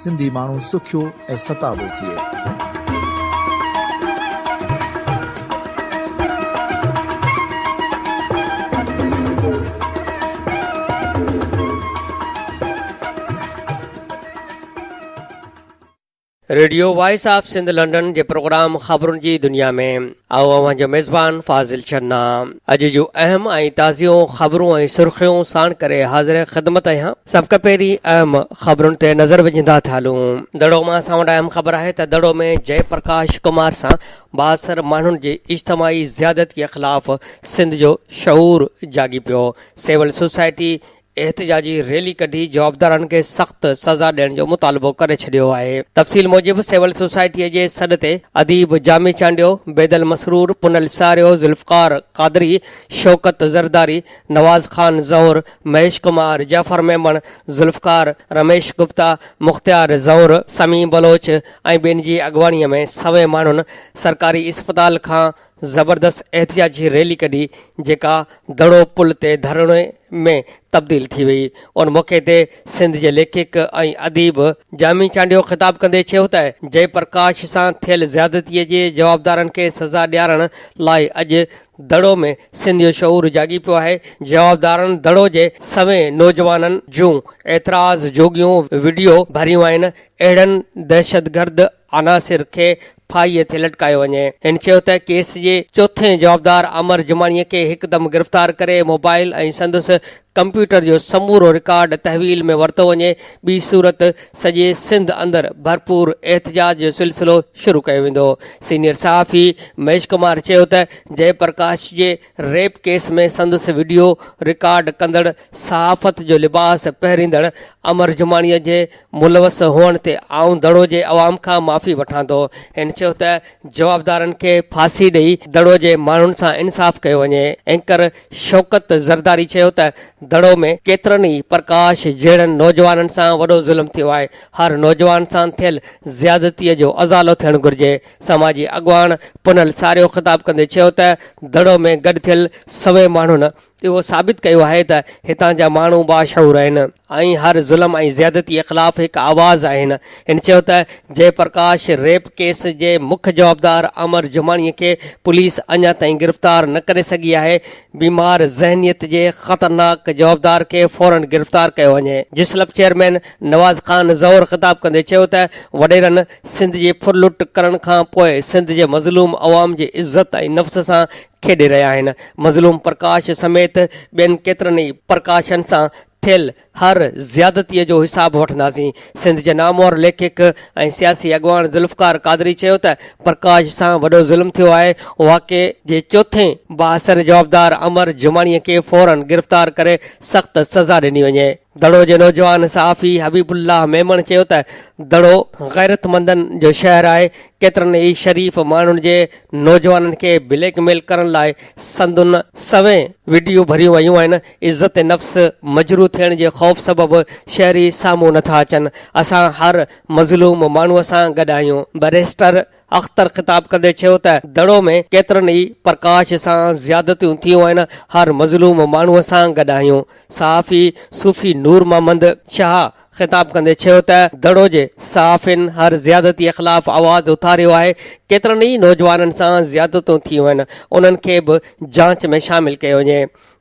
سنڌي ماڻهو سکيو ۽ ستابو ٿئي. Radio voice of Sindh London جي پروگرام خبرن جي دنيا ۾. آئون اوهان جو ميزبان فاضل شنا اڄ جون اهم ۽ تازيون خبرون ۽ سرخيون ساڻ ڪري حاضر خدمت آهيان سڀ کان پهرين اهم خبرن تي نظر وجهندا ٿا هلون دڙو مان اسان وٽ اهم خبر آهي ته دڙو ۾ جئه پرڪاش ڪمار سان بااثر ماڻهن جي اجتماعي زيادتيء خلاف سنڌ جو شعور جاڳي پيو سول سوسائٽي احتجاجي ريلي ڪڍي جوابدارن کي سخت سزا ڏيڻ جو مطالبو ڪري ڇڏيو آهي تفصيل موجب سول سوسائٽي جي سڏ تي اديب جامي چانڊيو، بيدل مسرور، پنل ساريو، ذوالفقار قادري، شوڪت زرداري، نواز خان زئور، مهيش ڪمار، جعفر ميمڻ، ذوالفقار، رميش گپتا، مختيار زئور، سميع بلوچ ۽ ٻين جي اڳواڻي ۾ سوين ماڻهن سرڪاري اسپتال کان زبردست احتجاجي ريلي ڪڍي جيڪا دڙو پل تي ڌرڻي ۾ تبديل ٿي وئي. ان موقعي تي سنڌ جي ليکڪ ۽ اديب جامي چانڊيو خطاب ڪندي چيو ته جئه پرڪاش سان ٿيل زيادتي جي جوابدارن کي سزا ڏيارڻ لاء اڄ دڙو ۾ سنڌ جو شعور جاڳي پيو آهي، جوابدارن دڙو جي سوين نوجوانن جون اعتراض جوڳيون وڊيو ڀريون آهن، اهڙن دهشتگرد عناصر کي ڦاهيء تي لٽڪايو وڃي. هن چيو ته ڪيس جي چوٿين جوابدار عمر جماڻيء کي هڪدم گرفتار ڪري موبائل ۽ سندس ڪمپيوٽر جو سمورو رڪارڊ تحويل ۾ ورتو وڃي، ٻي صورت سڄي سنڌ اندر ڀرپور احتجاج جو سلسلو شروع ڪيو ويندو. سينيئر صحافي مهيش ڪمار چيو ته جئه پرڪاش جي ريپ ڪيس ۾ سندس وڊيو رڪارڊ ڪندڙ صحافت جو لباس پهريندڙ امر جماڻيء جي ملوث هئڻ تي آئون دڙو جي عوام کان معافي وٺان ٿو. هن چيو ته جوابدارن کي ڦاسي ڏئي دڙو جي ماڻهن سان انصاف ڪيو وڃي. اينڪر شوڪت زرداري چيو ته دڙو ۾. ڪيترن ئي پرڪاش جهڙن نوجوانن سان وڏو ظلم ٿيو آهي، هر نوجوان سان ٿيل زيادتيء جو ازالو ٿيڻ گهرجي. سماجي اڳواڻ پنهل ساريو خطاب ڪندي چيو ته دڙو ۾ گڏ ٿيل سوين ماڻهن اهو ثابت ڪيو آهي ته هتان جا ماڻهو باشعور آهن ۽ هر ظلم ۽ زيادتي خلاف هڪ آواز آهن هن چيو ته جئه پرڪاش ريپ ڪيس جي مک جوابدار امر جماڻي کي پوليس اڃا تائين گرفتار نه ڪري سگهي آهي بيمار ذهنيت جي خطرناڪ جوابدار کي فورن گرفتار ڪيو وڃي جسلپ چيئرمين نواز خان زئور خطاب ڪندي چيو ته وڏيرن سنڌ جي ڦر لٽ ڪرڻ کان پوء سنڌ جي مظلوم عوام جي عزت ۽ نفس سان کيڏي رهيا آهن مظلوم پرڪاش سميت ٻين ڪيترن ئي پرڪاشن سان ٿيل هر زيادتي جو حساب وٺنداسين سنڌ جي نامور ليکڪ ۽ سياسي اڳواڻ ذوالفقار قادري چيو ته پرڪاش سان وڏو ظلم ٿيو آهي واقعي جي چوٿين بااثر جوابدار امر جماڻي کي فورن گرفتار ڪري سخت سزا ڏني وڃي. دڙو جي نوجوان صحافي حبيب الله ميمڻ چيو ته دڙو غيرتمندن جو شهر آهي، ڪيترن ئي شريف ماڻهن جي نوجوانن کي بليڪ ميل ڪرڻ لاء سندن سوين وڊيو ڀريون ويون آهن، عزت نفس مجروح ٿيڻ جي خوف سبب شهري سامهون نٿا اچن، اسان هر مظلوم ماڻهو سان گڏ آهيون، بئريسٽر اختر خطاب ڪندي چيو ته دڙو ۾ ڪيترن ئي پرڪاش سان زيادتيون ٿيون آهن، هر مظلوم ماڻهو سان گڏ آهيون. صحافي صوفي نور محمد شاهه خطاب ڪندي چيو ته دڙو جي صحافين هر زيادتيء خلاف آواز اٿاريو آهي، ڪيترن ئي نوجوانن سان زيادتيون ٿيون آهن، انهن کي به جاچ ۾ شامل ڪيو وڃي.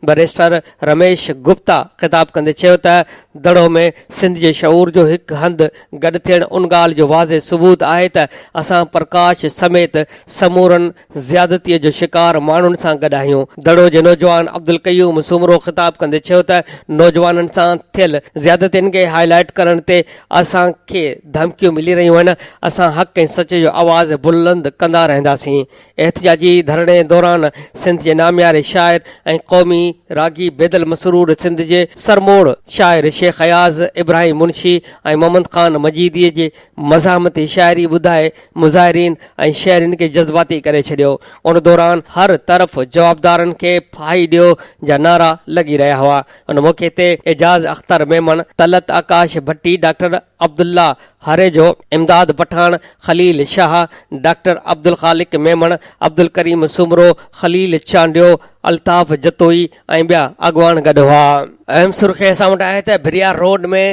بئريسٽر رميش گپتا خطاب ڪندي چيو ته دڙو ۾ سنڌ جي شعور جو هڪ هنڌ گڏ ٿيڻ ان ڳالهه جو واضح ثبوت آهي ته اسان پرڪاش سميت سمورن زيادتيء جو شڪار ماڻهن سان گڏ آهيون. دڙو جي نوجوان عبدالقيوم سومرو خطاب ڪندي چيو ته نوجوانن سان ٿيل زيادتين کي هاء لائيٽ ڪرڻ تي اسان کي ڌمڪيون ملي رهيون آهن، اسان حق ۽ سچ جو آواز بلند ڪندا رهنداسين، احتجاجي ڌرڻي دوران سنڌ جي نامياري شاعر ۽ قومي راڳي بيدل مسرور سنڌ جي سرموڙ شاعر شيخ اياز، ابراهيم منشي ۽ محمد خان مجيدي جي مزاحمتي شاعري ٻڌائي مظاهرين ۽ شهرين کي جذباتي ڪري ڇڏيو. ان دوران هر طرف جوابدارن کي ڦاهي ڏيو جا نعرا لڳي رهيا هئا. ان موقعي تي اعجاز اختر ميمڻ، طلعت آڪاش ڀٽي، ڊاڪٽر. عبدالله هاريجو، امداد پٺاڻ، خليل شاهه، ڊاڪٽر عبدالخالق ميمڻ، عبدالڪريم سومرو، خليل چانڊيو، الطاف جتوئي ۽ ٻيا اڳواڻ گڏ هئا. اهم سرخي اسان وٽ آهي ته ڀريار روڊ ۾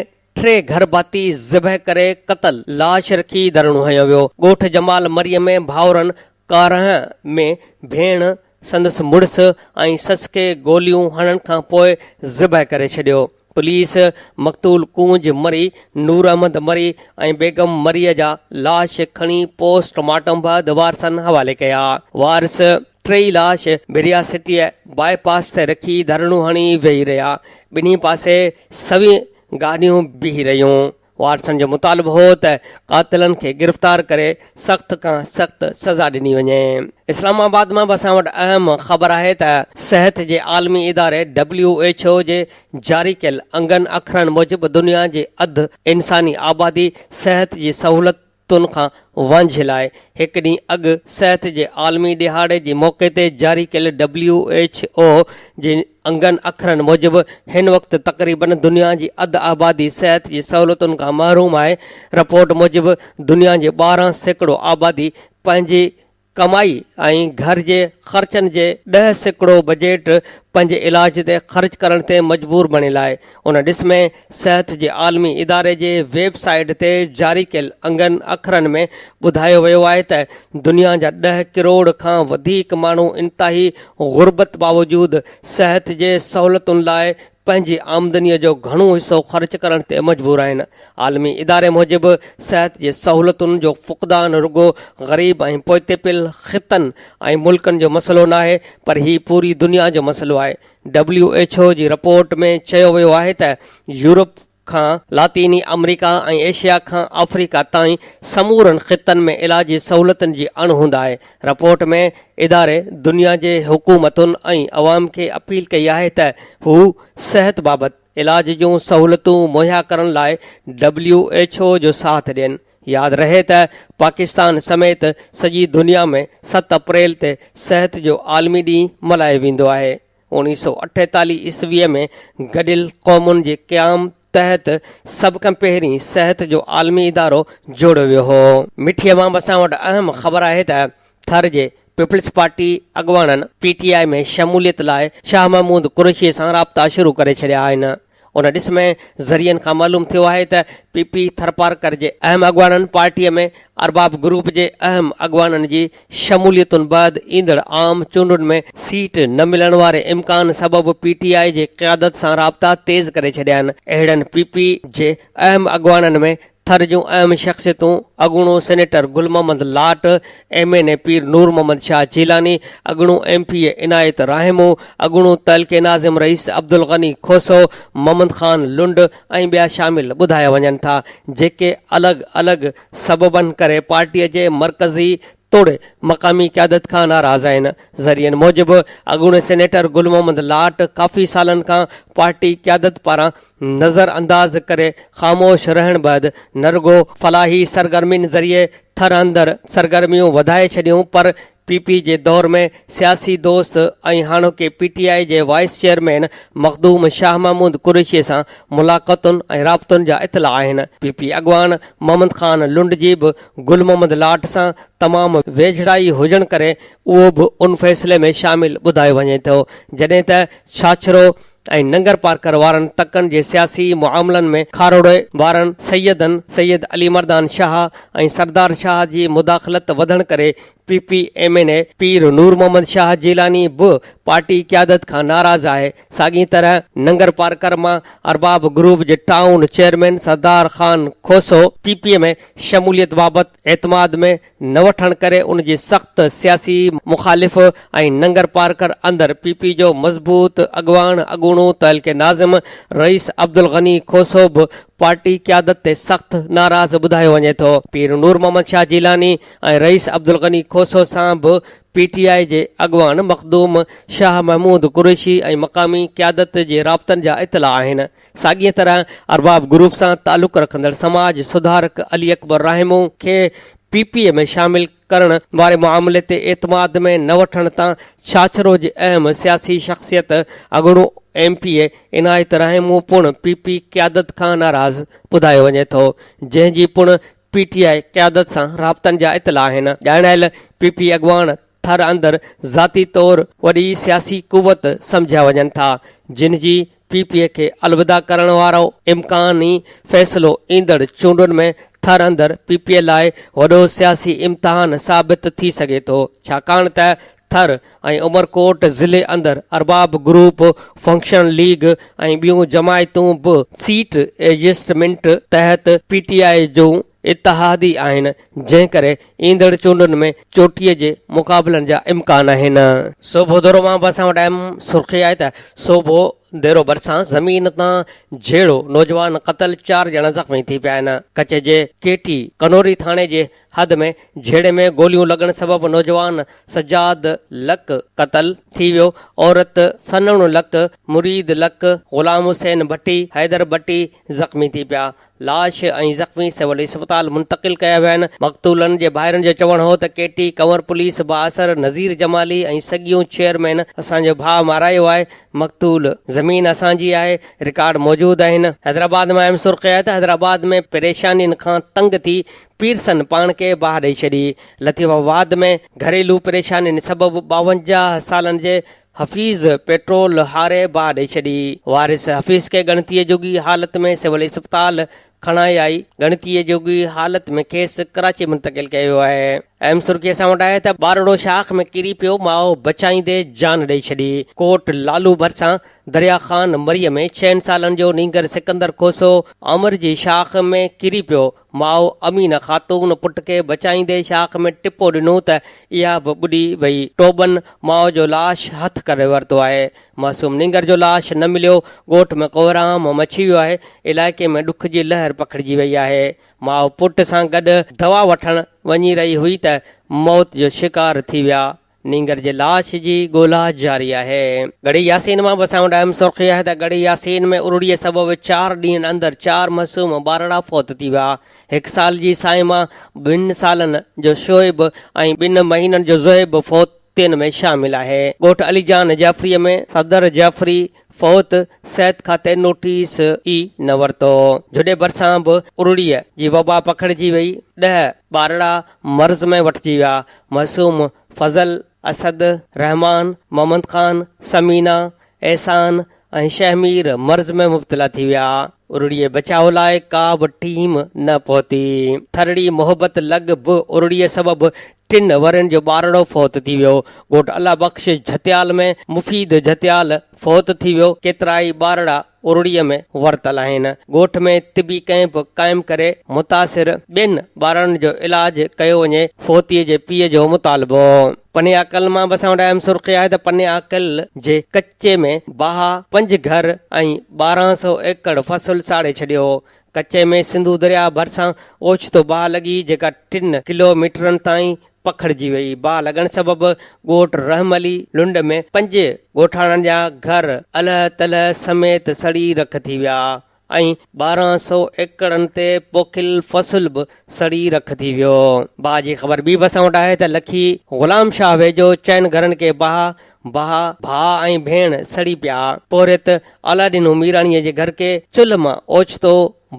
ٽي گهر ڀاتي ذبح ڪري قتل، لاش رکي ڌرڻو هنيو ويو، ڳوٺ جمال مري ۾ ڀائرن، ڪارنهن ۾ ڀيڻ، سندس مڙس ۽ سس کي گوليون هڻڻ کان پوء ذبح ڪري ڇڏيو. پوليس مقتول ڪونج مري، نور احمد مري ۽ بيگم مريء جا لاش کڻي پوسٽ مارٽم بعد وارثن حوالي ڪيا. وارث ٽيئي لاش بريا سٽيء باء پاس تي رکي ڌرڻو هڻي ويهي رهيا. ٻنهي پاسي سوين گاڏيون بيهي رهيون. واٽسن جو مطالبو هو ته قاتلن کي گرفتار ڪري سخت کان سخت سزا ڏني وڃي. اسلام آباد مان به اسان وٽ اهم خبر آهي ته صحت جي عالمي اداري ڊبليو ايڇ او جي جاري ڪيل انگن اکرن موجب دنيا جي اڌ انساني آبادي صحت جي سهولت تون کان وانجهي لاء هڪ ڏينهن اڳ صحت جي عالمي ڏهاڙي جي موقعي تي جاري ڪيل ڊبليو ايڇ او جي انگن اکرن موجب هن وقت تقريبن دنيا جي اڌ آبادي صحت جي سهولتن کان محروم آهي رپورٽ موجب دنيا جي ٻارهن سيڪڙو آبادي پنهنجي ڪمائي ۽ گهر جي خرچن جي ڏهه سيڪڙو بجيٽ پنهنجي علاج تي خرچ ڪرڻ تي مجبور بڻي لاء ان ڏس ۾ صحت جي عالمي اداري جي ويب سائيٽ تي جاري ڪيل انگن اکرن ۾ ٻڌايو ويو آهي ته دنيا جا ڏهه ڪروڙ کان وڌيڪ ماڻهو انتهائي غربت باوجود صحت جي سهولتن لاء پنهنجي آمدنيء جو گهڻو حصو خرچ ڪرڻ تي مجبور آهن. عالمي اداري موجب، صحت جي سهولتن جو فقدان رڳو غريب ۽ پوئتي پيل خطن ۽ ملڪن جو مسئلو ناهي، پر هي پوري دنيا جو مسئلو آهي. ڊبليو ايڇ او جي رپورٽ ۾ چيو ويو آهي ته يورپ، کان لاطيني آمريڪا ۽ ايشيا کان آفريڪا تائين سمورن خطن ۾ علاجي سهولتن جي اڻهوند آهي. رپورٽ ۾ اداري دنيا جي حڪومتن ۽ عوام کي اپيل ڪئي آهي ته هو صحت بابت علاج جون سهولتون مهيا ڪرڻ لاء ڊبليو ايڇ او جو ساٿ ڏين. ياد رهي ته پاڪستان سميت سڄي دنيا ۾ ست اپريل تي صحت جو عالمي ڏينهن ملهايو ويندو آهي. اوڻيهه سؤ اٺيتاليهه عيسويء ۾ گڏيل قومن جي قيام تحت سڀ کان پهرين صحت جو عالمي ادارو جوڙيو ويو هو. مٺي عوام اسان وٽ اهم خبر آهي ته ٿر جي پيپلز پارٽي اڳواڻن پي ٽي آء ۾ شموليت لاء شاهه محمود قريشي سان رابطا شروع ڪري ڇڏيا آهن. ان ڏس ۾ ذريعن کان معلوم ٿيو آهي ته پي پي ٿرپارڪر جي اهم اڳواڻن پارٽي ۾ ارباب گروپ جي اهم اڳواڻن جي شموليتن بعد ايندڙ عام چونڊن ۾ سيٽ نه ملڻ واري امڪان سبب پي ٽي آء جي قيادت سان رابطا تيز ڪري ڇڏيا آهن اهڙن پي پي جي اهم اڳواڻن ۾ ٿر جون اهم شخصيتون اڳوڻو senator Gul Muhammad Lat, M N A Pir Noor Muhammad Shah Jilani, اڳوڻو M P A Inayat Rahimo, اڳوڻو تعلقي ناظم رئيس عبدالغني کوسو، محمد خان لنڊ ۽ ٻيا شامل ٻڌايا وڃن ٿا، جيڪي الڳ الڳ سببن ڪري پارٽي جي مرڪزي توڙي مقامي قيادت کان ناراض آهن. ذريعن موجب اڳوڻي سينيٽر گل محمد لاٽ ڪافي سالن کان پارٽي قيادت پاران نظر انداز ڪري خاموش رهڻ بعد نه رڳو فلاحي سرگرمين ذريعي ٿر اندر سرگرميون وڌائي ڇڏيون پر پي پي جي دور ۾ سياسي دوست ۽ هاڻوڪي پي ٽي آء جي وائيس چيئرمين مخدوم شاهه محمود قريشي سان ملاقاتن ۽ رابطن جا اطلاع آهن. پي پي اڳواڻ محمد خان لنڊ جي به گل محمد لاٽ سان تمام ويجهڙائي هجڻ ڪري اهو به ان فيصلي ۾ شامل ٻڌايو وڃي ٿو، جڏهن ته ڇاڇرو ۽ ننگرپارڪر وارن تڪن جي سياسي معاملن ۾ کاروڙي وارن سيدن سيد علي مردان شاهه ۽ سردار شاهه جي مداخلت وڌڻ ڪري P P M N A Pir Noor Muhammad Shah Jilani به پارٽي قيادت کان ناراض آهي ساڳيء طرح ننگرپارڪر مان ارباب گروپ جي town chairman Sardar Khan Khoso P P ۾ شموليت بابت اعتماد ۾ نه وٺڻ ڪري ان جي سخت سياسي مخالف ۽ ننگرپارڪر اندر پي پي جو مضبوط اڳواڻ اڳوڻو تحلڪي ناظم رئيس عبدالغني کوسو به پارٽي قيادت تي سخت ناراض ٻڌايو وڃي ٿو. پير نور محمد شاهه جيلاني ۽ رئيس عبدالغني کوسو سان به پي ٽي آء جي اڳواڻ مخدوم شاهه محمود قريشي ۽ مقامي قيادت جي رابطن جا اطلاع آهن. ساڳيء طرح ارباب گروپ سان تعلق رکندڙ سماج سڌارڪ علي اڪبر راهمو کي پي پي اي ۾ شامل ڪرڻ واري معاملي تي اعتماد ۾ نه وٺڻ تان ڇاڇرو جي اهم سياسي شخصيت اڳوڻو M P A Inayat Rahmo پڻ پي پي قيادت کان ناراض ٻڌايو وڃي ٿو جنهن جي پڻ پي ٽي آء قيادت سان رابطن جا اطلاع آهن، ڄاڻايل پي پي اڳواڻ ٿر اندر ذاتي طور وڏي سياسي قوت سمجهيا وڃن ٿا، جن جي پي پي کي الوداع ڪرڻ وارو امڪاني فيصلو ايندڙ چونڊن ۾ ٿر اندر پي پي لاء وڏو سياسي امتحان ثابت ٿي سگهي ٿو، ڇاڪاڻ ته ٿر ۽ عمرڪوٽ ضلعي اندر ارباب گروپ، فنڪشن ليگ ۽ ٻيون جماعتون به سيٽ ايڊجسٽمينٽ تحت پي ٽي آء جون اتحادي آهن، جنهن ڪري ايندڙ چونڊن ۾ چوٽيء جي مقابلن جا امڪان آهن. سوڀو ديرو مان به اسان وٽ اهم سرخي آهي ته سوڀو ديرو ڀرسان زمين تان جهيڙو، نوجوان قتل، چار ڄڻا زخمي ٿي پيا آهن. ڪڇ جي ڪي ٽي ڪنوري ٿاڻي جي حد ۾ جهيڙي ۾ گوليون لڳڻ سبب نوجوان سجاد لڪ قتل ٿي ويو، عورت سنهڻ لڪ، مريد لڪ، غلام حسين ڀٽي، حيدر ڀٽي زخمي ٿي پيا، لاش ۽ زخمي سول اسپتال منتقل ڪيا ويا آهن، مقتولن جي ڀائرن جو چوڻ هو ته ڪي ٽي ڪنور پوليس بااثر نذير جمالي ۽ سڳيون چيئرمين اسان جو ڀاء مارايو آهي، مقتول زمين اسان جي آهي، رڪارڊ موجود آهن. حيدرآباد مان ايم سرخيات حيدرآباد ۾ پريشانين کان تنگ ٿي پيرسن پاڻ کي باهه ڏئي ڇڏي. لطيف آباد ۾ گهريلو پريشانين سبب ٻاونجاهه سالن جي حفيظ پيٽرول هاري باهه ڏئي ڇڏي. وارث حفيظ کي ڳڻتيء جوڳي حالت ۾ سول اسپتال کڻائي آئي ڳڻتيء جوڳي حالت ۾ کيس ڪراچي منتقل ڪيو ويو آهي. اهم سرخي اسان وٽ آهي ته ٻارڙو شاخ ۾ ڪري پيو ماء بچائيندي جان ڏئي ڇڏي. ڪوٽ لالو ڀرسان دريا خان مري ۾ ڇهن سالن جو نينگر سڪندر کوسو آمر جي شاخ ۾ ڪري پيو ماء امينه خاتون پٽ کي بچائيندي شاخ ۾ ٽپو ڏنو ته اها به ٻڏي وئي، ٽوٻن ماء جو لاش هٿ ڪري ورتو آهي، معصوم نينگر جو لاش نه مليو، ڳوٺ ۾ ڪوهرام مچي ويو آهي، علائقي ۾ ڏک جي لهر پکڙجي وئي آهي، ماء پٽ سان گڏ دوا وٺڻ وڃي رهي هئي ته موت جو شڪار ٿي ويا، نينگر جي لاش جي ڳولا جاري آهي. ڳڙهي ياسين مان به اسان وٽ اهم سرخي آهي ته ڳڙهي ياسين ۾ ارڙيء سبب چار ڏينهن اندر چار معصوم ٻارڙا فوت ٿي ويا. هڪ سال جي صائمه، ٻن سالن جو شعيب ۽ ٻن مهينن جو زهيب فوتين ۾ شامل آهي. ڳوٺ علي جان جعفريء ۾ صدر جعفري فوت صحت کاتي نوٽيس ئي نه ورتو. جھوڏي ڀرسان به ارڙيء جي وبا پکڙجي وئي. ڏهه ٻارڙا مرض ۾ وٺجي ويا. معصوم، فضل، اسد، رحمان، محمد خان، ثمينه، احسان ۽ شهمير مرض ۾ مبتلا ٿي ويا. ارڙيء بچاء لاء ڪا به ٽيم نه پهتي. ٿرڙي محبت لڳ به ارڙيء سبب ٽن ورهين جو ٻارڙو فوت ٿي ويو، ڳوٺ الله بخش جھتيال ۾ مفيد جھتيال فوت ٿي ويو، ڪيترائي ٻارڙا ارڙيء ۾ ورتل آهن، ڳوٺ ۾ طبي ڪئمپ قائم ڪري متاثر ٻين ٻارڙن جو علاج ڪيو وڃي، فوتيء جي پيء جو مطالبو. پنيا قل مان به اسان وٽ اهم سرخي آهي ته پنيا قل جي ڪچي ۾ باها پنج گهر ۽ ٻارهن سئو ايڪڙ فصل ساڙي ڇڏيو هو، ڪچي ۾ سنڌو درياهه ڀرسان اوچتو باهه لڳي جيڪا ٽن ڪلو ميٽرن تائين پکڙجي وئي. باهه لڳڻ سبب ڳوٺ رحم علي لنڊ ۾ پنج ڳوٺاڻن جا گهر الهه تلهه سميت سڙي رک ٿي ويا ۽ ٻارهن سئو ايڪڙن تي پوکيل فصل به سڙي رک ٿي ويو. باهه جي خبر ٻي به اسان وٽ آهي ته لکي غلام شاهه ويجهو چئن گهرن کي باهه ڀاء، ڀاء ۽ ڀيڻ سڙي پيا. پورهيت علاءالدين هميراڻيء جي گهر کي چلهه مان اوچتو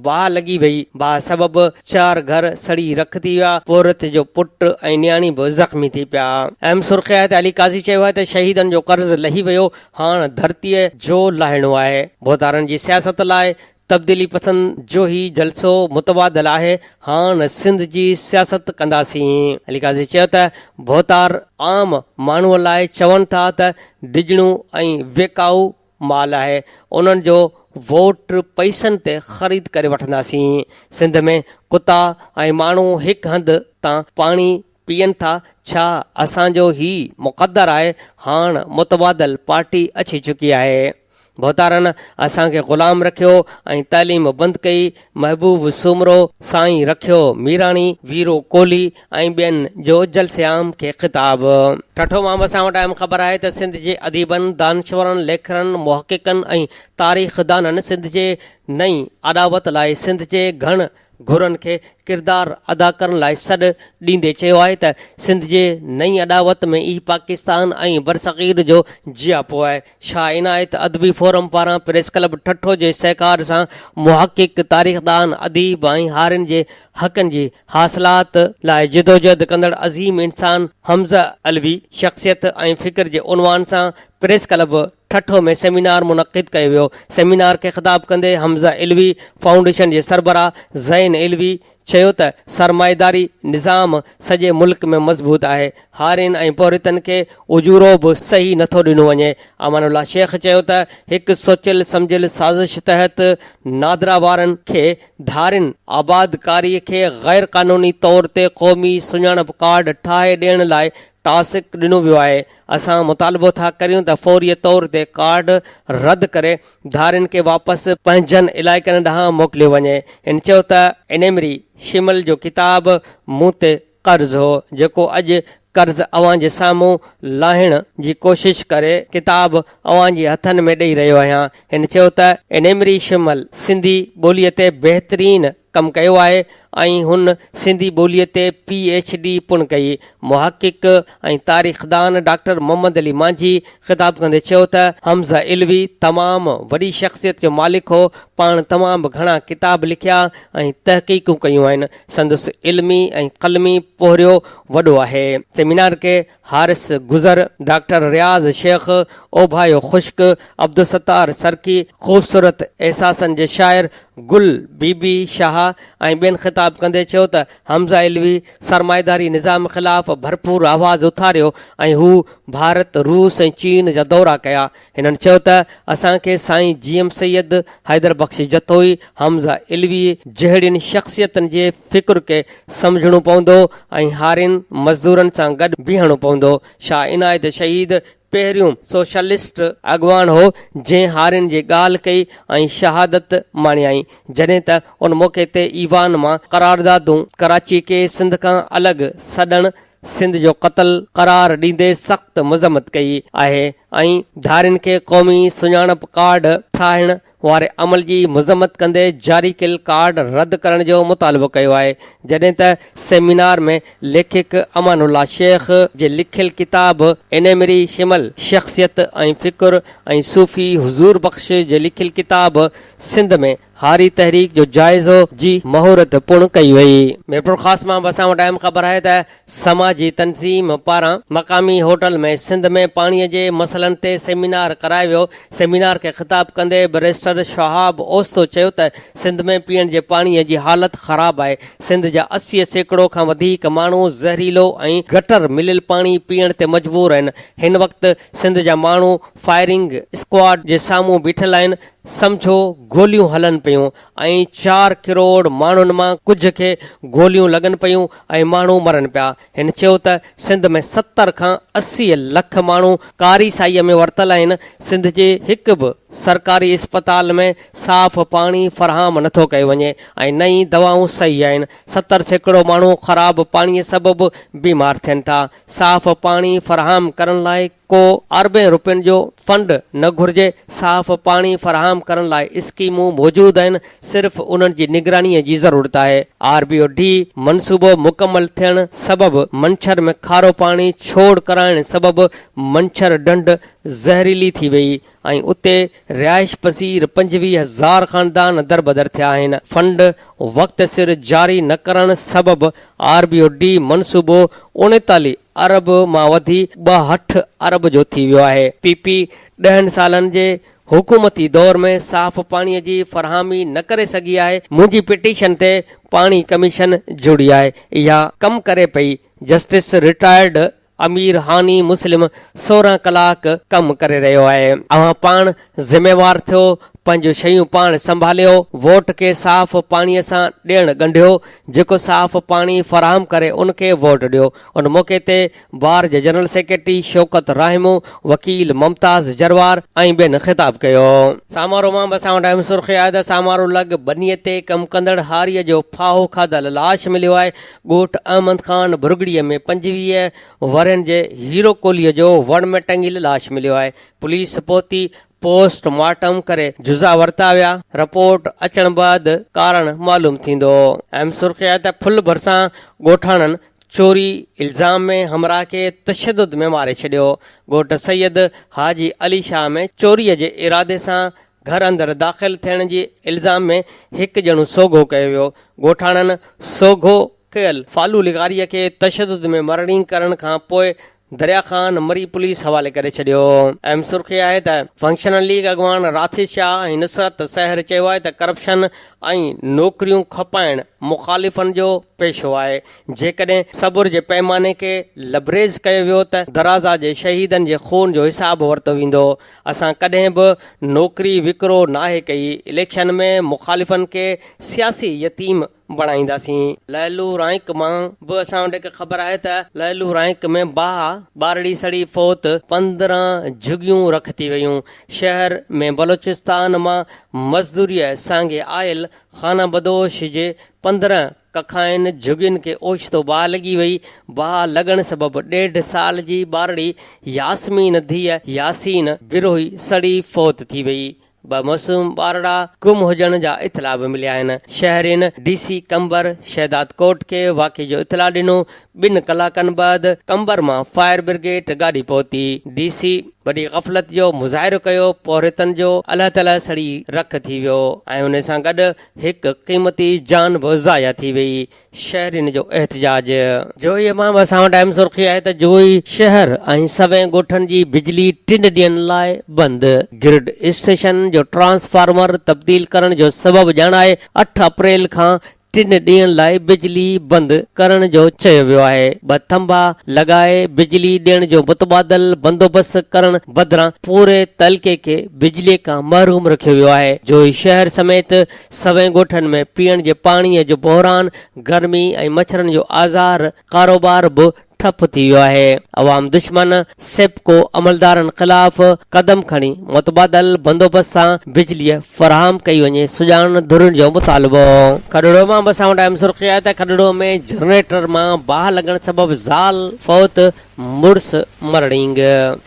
باهه لڳي ويئي. باهه سبب چار گهر سڙي رک ٿي ويا. پورهيت جو پٽ ۽ نياڻي به زخمي ٿي پيا. ايم سرخي آهي ته علي قاضي چيو آهي ته شهيدن جو قرض لهي ويو، هاڻ ڌرتيء جو لاهڻو آهي. ڀوتارن جي سياست لاء تبديلي پسند جو هي جلسو متبادل آهي، هاڻ سنڌ جي سياست ڪنداسين. علي قاضي چيو ته ڀوتار عام ماڻهو لاء چون ٿا ته ڊڄڻو ۽ ويڪائو مال آهي، انهن جو ووٽ پئسن تي خريد ڪري وٺنداسين، سنڌ ۾ ڪتا ۽ ماڻهو هڪ هنڌ تان پاڻي پيئن ٿا، ڇا اسان جو هي مقدر آهي، هاڻ متبادل پارٽي اچي چڪي آهي. ڀوتارن اسان کي غلام رکيو ۽ تعليم بند ڪئي، محبوب سومرو، سائين رکيو ميراڻي، ويرو ڪولهي ۽ ٻين جو جلسي عام کي خطاب. ٺٽو مان به اسان وٽ اهم خبر آهي ته سنڌ جي اديبن، دانشورن، ليکرن، محققن ۽ تاريخدانن سنڌ جي نئين اڏاوت لاء سنڌ جي گهڻ گهرن کي ڪردار ادا ڪرڻ لاء سڏ ڏيندي چيو آهي ته سنڌ جي نئين اڏاوت ۾ ئي پاڪستان ۽ برصغير جو جياپو آهي. شاهه عنايت ادبي فورم پاران پريس ڪلب ٺٽو جي سهڪار سان محقق، تاريخدان، اديب ۽ هارين جي حقن جي حاصلات، لاء جدوجهد ڪندڙ عظيم انسان حمزه علوي شخصيت ۽ فڪر جي عنوان سان پريس ڪلب ٺٽو ۾ سيمينار منعقد ڪيو ويو، سيمينار کي خطاب ڪندي حمزه علوي فائونڊيشن جي سربراهه زين علوي چيو ته سرمائيداري نظام سڄي ملڪ ۾ مضبوط آهي، هارين ۽ پورهيتن کي اجورو به صحيح نٿو ڏنو وڃي، امان الله شيخ چيو ته هڪ سوچيل سمجهيل سازش تحت نادرا وارن کي ڌارين آبادڪاري کي غيرقانوني طور تي قومي سڃاڻپ ڪارڊ ٺاهي ڏيڻ لاء ٽاسڪ ڏنو ويو آهي، اسان مطالبو ٿا ڪريون ته فوري طور تي ڪارڊ رد ڪري ڌارين کي واپس پنهنجن علائقن ڏانهن موڪليو وڃي. هن چيو ته انيمري شمل جو ڪتاب مون تي قرض هو، جيڪو اڄ قرض اوهان جي سامهون لاهڻ جي ڪوشش ڪري ڪتاب اوهان جي هٿن ۾ ڏئي رهيو آهيان. هن چيو ته انيمري شمل سنڌي ٻولي تي بهترين ڪم ڪيو آهي ۽ هن سنڌي ٻوليء تي پي ايڇ ڊي پڻ ڪئي. محقق ۽ تاريخدان ڊاڪٽر محمد علي مانجهي خطاب ڪندي چيو ته حمزه علوي تمام وڏي شخصيت جو مالڪ هو، پاڻ تمام گهڻا ڪتاب لکيا ۽ تحقيقون ڪيون آهن، سندس علمي ۽ قلمي پوهريو وڏو آهي. سيمينار کي حارث گذر، ڊاڪٽر رياض شيخ، اوڀايو خشڪ، عبدالستار سرڪي، خوبصورت احساسن جي شاعر گل بي بي شاهه ۽ ٻين خطاب ڪندي چيو ته حمزه علوي سرمائيداري نظام خلاف ڀرپور آواز اٿاريو ۽ هو ڀارت، روس ۽ چين جا دورا ڪيا، هنن چيو ته اسان کي سائين جي ايم سيد، حيدر بخش جتوئي، حمزه علوي جهڙين شخصيتن جي فڪر کي سمجهڻو پوندو ۽ هارين مزدورن سان گڏ بيهڻو پوندو. شاهه عنايت شهيد پهريون سوشلسٽ اڳواڻ هو جنهن هارين جي ڳالهه ڪئي ۽ شهادت ماڻيائين. جڏهن ته ان موقعي تي ايوان مان قراردادون ڪراچي کي سنڌ کان الڳ سڏڻ، سنڌ جو قتل قرار ڏيندي سخت مذمت ڪئي آهي ۽ ڌارين کي قومي سڃاڻپ ڪارڊ ٺاهڻ واري عمل جي مذمت ڪندي جاري ڪيل ڪارڊ رد ڪرڻ جو مطالبو ڪيو آهي جڏهن ته سيمينار ۾ ليکڪ امان الله شيخ جي لکيل ڪتاب انيمري شمل شخصيت ۽ فڪر ۽ صوفي حضور بخش جي لکيل ڪتاب سنڌ ۾ هاري تحريڪ جو جائزو جي مهورت پڻ ڪئي وئي. ميرپورخاص مان به اسان وٽ اهم خبر آهي ته سماجي تنظيم پاران مقامي هوٽل ۾ سنڌ ۾ پاڻي جي مسئلن تي سيمينار ڪرايو ويو، سيمينار کي خطاب ڪندي بئريسٽر شهاب اوستو چيو ته سنڌ ۾ پيئڻ جي پاڻي جي حالت خراب آهي، سنڌ جا اسي سيڪڙو کان وڌيڪ ماڻهو زهريلو ۽ گٽر مليل پاڻي پيئڻ تي مجبور آهن، هن وقت سنڌ جا ماڻهو فائرنگ اسڪواڊ جي سامهون بيٺل آهن، سمجهو گوليون هلن پيون ۽ چار ڪروڙ ماڻهن مان ڪجهه کي گوليون لڳن پيون ۽ ماڻهو مرن پيا. هن چيو ته سنڌ ۾ ستر کان اسي لک ماڻهو ڪاري سائيء ۾ ورتل آهن، سنڌ جي هڪ به سرڪاري اسپتال ۾ صاف پاڻي فراهم نٿو ڪيو وڃي ۽ نه ئي دوائون صحيح آهن، ستر سيڪڙو ماڻهو خراب پاڻي سبب بيمار ٿين ٿا. صاف پاڻي فراهم ڪرڻ لاء ڪو اربين رپين جو فنڊ نه گهرجي، صاف پاڻي فراهم ڪرڻ لاء اسڪيمون موجود آهن، صرف انهن جي نگرانيء جي ضرورت آهي، آر بي او ڊي منصوبو مڪمل ٿيڻ سبب منڇر ۾ کارو پاڻي ڇوڙ ڪرائڻ سبب منڇر ڍنڍ زهريلي ٿي ويئي، ۽ اتي رهائش پذير پنجويهه هزار خاندان دربدر ٿيا آهن، فنڊ وقت سر جاري نه ڪرڻ سبب آر بي او ڊي منصوبو اڻيتاليهه ارب مان وڌي ٻاهٺ ارب جو ٿي ويو آهي. پي پي ڏهن سالن جي حڪومتي دور ۾ صاف پاڻي جي فراهمي نه ڪري سگهي آهي، منهنجي پٽيشن تي پاڻي ڪميشن جڙي آهي، اها ڪم ڪري پئي، جسٽس رٽائرڊ امير هاني مسلم سورهن ڪلاڪ ڪم ڪري رهيو آهي اوهان پاڻ ذميوار ٿيو پنهنجون شيون پاڻ سنڀاليو ووٽ کي صاف پاڻي سان ڏيڻ ڳنڍيو جيڪو صاف پاڻي فراهم ڪري ان کي ووٽ ڏيو ان موقعي تي بار جي جنرل سيڪريٽري شوڪت راهمو وڪيل ممتاز جروار ۽ ٻين خطاب ڪيو. سامارو مان به اسان وٽ اهم سرخي آهي ته سامارو لڳ ٻني تي ڪم ڪندڙ هاري جو ڦاهو کاڌل لاش مليو آهي ڳوٺ احمد خان ڀرڳڙي ۾ پنجويهه ورهين جي هيرو ڪولهي جو وڻ ۾ ٽنگيل لاش مليو آهي، پوليس پهتي پوسٽ مارٽم ڪري جزا ورتا ويا، رپورٽ اچڻ بعد ڪارڻ معلوم ٿيندو. اهم سرخي آهي ته ڦل ڀرسان ڳوٺاڻن چوري الزام ۾ همراهه کي تشدد ۾ ماري ڇڏيو، ڳوٺ سيد حاجي علي شاهه ۾ چوري جي ارادي سان گهر اندر داخل ٿيڻ جي الزام ۾ هڪ ڄڻو سوگهو ڪيو ويو، ڳوٺاڻن سوگهو ڪيل فالو لغاري کي تشدد ۾ مرڻي ڪرڻ کان پوء دريا خان مري پوليس حوالي ڪري ڇڏيو. اهم سرخي آهي ته فنڪشنل ليگ اڳواڻ راٿي شاهه ۽ نصرت سحر چيو آهي ته ڪرپشن ۽ نوڪريون کپائڻ مخالفن جو پيشو آهي، جيڪڏهن صبر جي پيماني کي لبريز ڪيو ويو ته درازا جي شهيدن جي خون جو حساب ورتو ويندو، اسان ڪڏهن به نوڪري وڪرو ناهي ڪئي، اليڪشن ۾ مخالفن کي سياسي يتيم بڻائينداسين. لعلو رائينڪ مان به اسان وٽ هڪ خبر آهي ته لعلو رائينڪ ۾ باهه ٻارڙي سڙي فوت، پندرهن جهڳيون رک ٿي ويون، شهر ۾ بلوچستان مان مزدوريء سانگي آيل خانه بدوش جي پندرهن ڪکائين جهڳين کي اوچتو باهه لڳي وئي. باهه لڳڻ سبب ڏيڍ سال جي ٻارڙي ياسمين ڌيء ياسين بروهي سڙي فوت ٿي وئي. ٻه معصوم ٻارڙا گم هجڻ جا اطلاع به مليا آهن. شهرين ڊي سي قمبر شهدادڪوٽ کي واقعي جو اطلاع ڏنو. ٻن ڪلاڪن بعد قمبر مان فائر برگيٽ گاڏي پهتي. ڊي سي وڏي غفلت جو مظاهرو ڪيو. پورهيتن جو الهه تلهه سڙي رک ٿي ويو ۽ ان سان گڏ هڪ قيمتي جان به ضايع ٿي وئي، شهرين جو احتجاج. جويي مان اسان وٽ اهم سرخي آهي ته جويي شهر ۽ سوين ڳوٺن جي بجلي ٽن ڏينهن لاء بند، گرڊ اسٽيشن جو ٽرانسفارمر تبديل ڪرڻ جو سبب ڄاڻائي اٺ اپريل کان ٽن ڏينهن لاء بجلي بند ڪرڻ جو چيو ويو آهي، ٻه ٿنڀا لڳائي بجلي ڏيڻ جو متبادل بندوبست ڪرڻ بدران پوري تعلقي کي بجلي کان محروم رکيو ويو آهي. جوهي شهر سميت سوين ڳوٺن ۾ پيئڻ جي پاڻي جو بحران، گرمي ۽ مڇرن جو آزار، ڪاروبار به ٺپ ٿي ويو آهي. عوام دشمن سيپڪو عملدارن خلاف قدم کڻي متبادل بندوبست سان بجلي فراهم ڪئي وڃي، سڄاڻ ڌرين جو مطالبو. کڏڙو مان به اسان وٽ اهم سرخي آهي ته کڏڙو ۾ جنريٽر مان باهه لڳڻ سبب زال فوت مڙس مرڙينگ.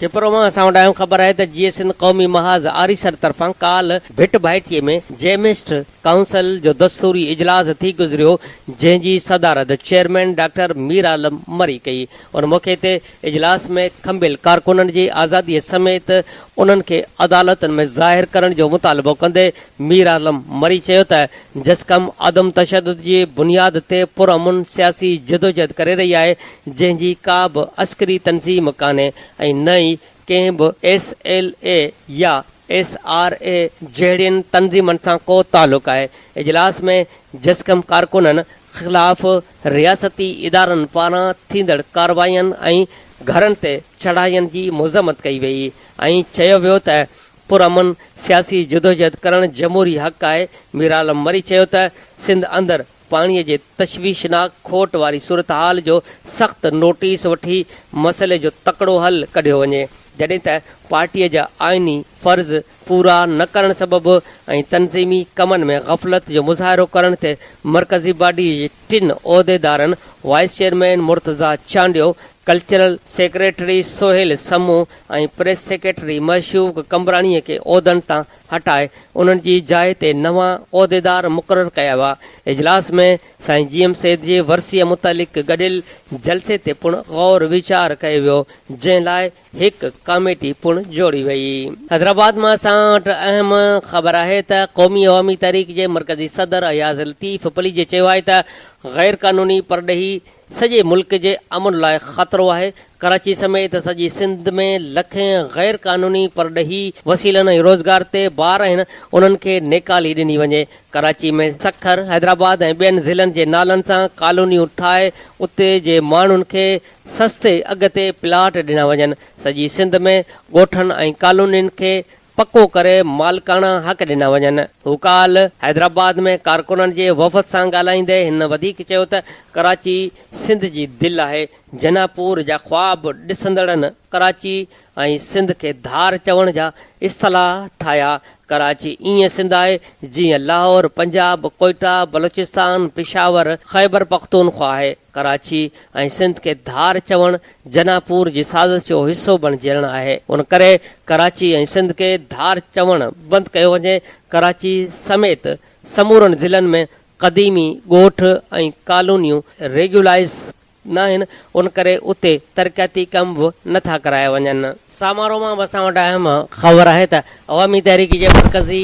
ڇپرو مان اسان وٽ آيون خبر آهي ته جيئي سنڌ قومي محاذ آريسر طرفان ڪالھ ڀٽ ڀائٽيي ۾ جيمسٽ ڪائونسل جو دستوري اجلاس ٿي گذريو جنهن جي صدارت چيئرمين ڊاڪٽر ميرعالم مري ڪئي ان موقعي تي اجلاس ۾ کنڀيل ڪارڪنن جي آزادي سميت انهن کي عدالتن ۾ ظاهر ڪرڻ جو مطالبو ڪندي مير عالم مري چيو ته جس قوم عدم تشدد جي بنياد تي پرامن سياسي جدوجهد ڪري رهي آهي، جنهن جي ڪا به عسڪري تنظيم ڪانهي ۽ نه ئي ڪنهن به ايس ايل اي يا ايس آر اي جهڙين تنظيمن سان ڪو تعلق آهي. اجلاس ۾ جس قوم ڪارڪنن خلاف رياستي ادارن پاران ٿيندڙ ڪارروائين ۽ گهرن تي چڙهائين جي مذمت ڪئي وئي ۽ چيو ويو ته پرامن سياسي جدوجهد ڪرڻ جمهوري حق آهي، ميرعالم مري چيو ته سنڌ اندر پاڻي جي تشويشناڪ کوٽ واري صورتحال جو سخت نوٽيس وٺي مسئلي جو تڪڙو حل ڪڍيو وڃي، جڏهن ته پارٽي جا آئيني فرض پورا نه ڪرڻ سبب ۽ تنظيمي ڪمن ۾ غفلت جو مظاهرو ڪرڻ تي مرڪزي باڊي جي ٽن عهديدارن vice chairman Murtaza Chandio, cultural secretary Sohail Samoon ۽ press secretary Mashooq Qambrani کي عهدن تان هٽائي انهن جي جاء تي نوان عهديدار مقرر ڪيا ويا. اجلاس ۾ سائين جي ايم سيد جي ورسيء متعلق گڏيل جلسي تي پڻ غور ويچار ڪيو ويو جنهن لاء هڪ ڪاميٽي پڻ جوڙي وئي. حيدرآباد مان اسان وٽ اهم خبر آهي ته قومي عوامي تحريڪ جي مرڪزي صدر اياز لطيف پليجي چيو آهي ته غير قانوني پرڏيهي سڄي ملڪ جي امن لاء خطرو آهي، ڪراچي سميت سڄي سنڌ ۾ لکين غير قانوني پرڏيهي وسيلن ۽ روزگار تي بار آهن انهن کي نيڪالي ڏني وڃي، ڪراچي ۾ سکر، حيدرآباد ۽ ٻين ضلعن جي نالن سان ڪالونيون ٺاهي اتي جي ماڻهن کي سستي اگهه تي پلاٽ ڏنا وڃن، سڄي سنڌ ۾ ڳوٺن ۽ ڪالونين کي پڪو ڪري مالڪاڻا حق ڏنا وڃن. هو ڪالهه حيدرآباد ۾ ڪارڪنن جي وفد سان ڳالهائيندي هن وڌيڪ چيو ته ڪراچي سنڌ جي دل آهي، جناح پور جا خواب ڏسندڙن ڪراچي ۽ سنڌ کي ڌار چوڻ جا اصطلاح ٺاهيا، ڪراچي ائين سنڌ آهي جيئن لاهور، پنجاب، ڪوئيٽا، بلوچستان، پشاور، خيبرپختونخوا آهي. ڪراچي ۽ سنڌ کي ڌار چوڻ جناپور جي سازش جو حصو بڻجيڻ آهي ان ڪري ڪراچي ۽ سنڌ کي ڌار چوڻ بند ڪيو وڃي ڪراچي سميت سمورن ضلعن ۾ قديمي ڳوٺ ۽ ڪالونيون ريگيولائيز ناهن ان ڪري اتي ترقياتي ڪم به نٿا ڪرايا وڃن. سامارو مان به اسان وٽ اهم خبر آهي ته عوامي تحريڪ جي مرڪزي